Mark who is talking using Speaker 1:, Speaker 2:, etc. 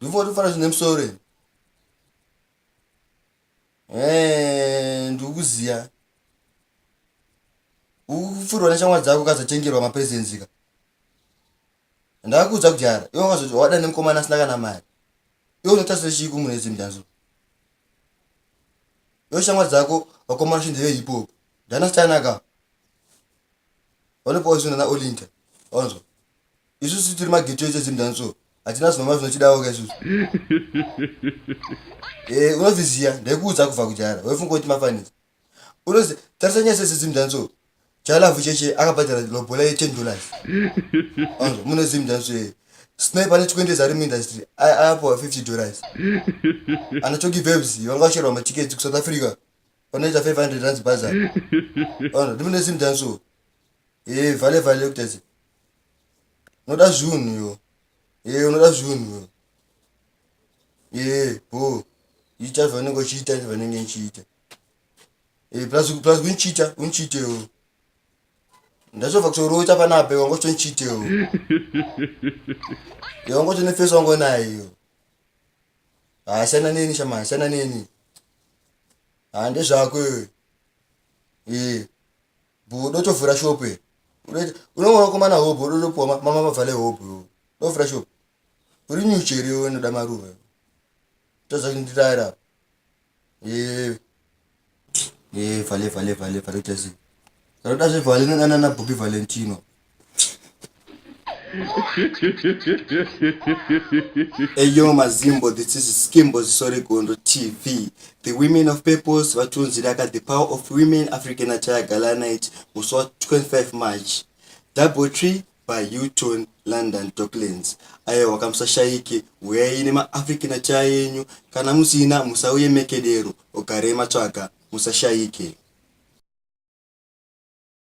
Speaker 1: Ndivyo ndifana zvine musoro here? Eh, ndikuziya. Ukufurwa neshamwari dzako kazotengerwa mapresents ka. Ndakakuudza kudhara, iwe wakazoti wada nemukomana asina kana mari. Iwe unotasira chii kumunhu edzi mdanzo? Iwe shamwari dzako vakomana shinzi ve hip hop. Ndana stanaka. Vanopowa zvinhu na Olinda. Onzwa. isusu tiri mageto echo chinhu chani so hatina zvinoma zvinochidawo ka isusu e unozviziva ndaikuudza kubva kujara waifunga kuti mafanisa unozi tarisa nyaya sese zim danso chalavu cheche akabhadhara lobola ye ten dollars anzwa mune zim danso yeye snipe ane chikwendezi ari muindustry aapowa fifty dollars ana choki vebs vanga vacherwa matiketi kusouth africa vanoita five hundred rands baza anzwa ndimune zim danso e vale vale kutasi unoda zviunhu yo ee eh, unoda zviunhu yo ee eh, bo ita zvaunenge uchiita ita zvaunenge ndichiita ee eh, plus plus undichiita undichiitewo ndazova kutorota panape wanga uchitonichiitewo yewanga uchitoniface wangu nayo haa siyana neni shama siyana neni haa ndezvako iwe ee bodo tovhura shop iri unoona komana hope bodo topuwa mama vavhale hope tovhura shop uri nyuchi here iwe inoda maruva toza kundiraira ee ee vhale vhale vhale vhale tese tanoda zvevhale nanana bobi valentino eyo mazimbo this is skimbo zisorigondo tv the women of purpose vatonzi raka the power of women african ataya gala night musi wa 25 march double tree by uton london docklands ayo wakamusashayike huyai nemaafrican ataya yenyu kana musina musauye mekedero ugarei matsvaga musashayike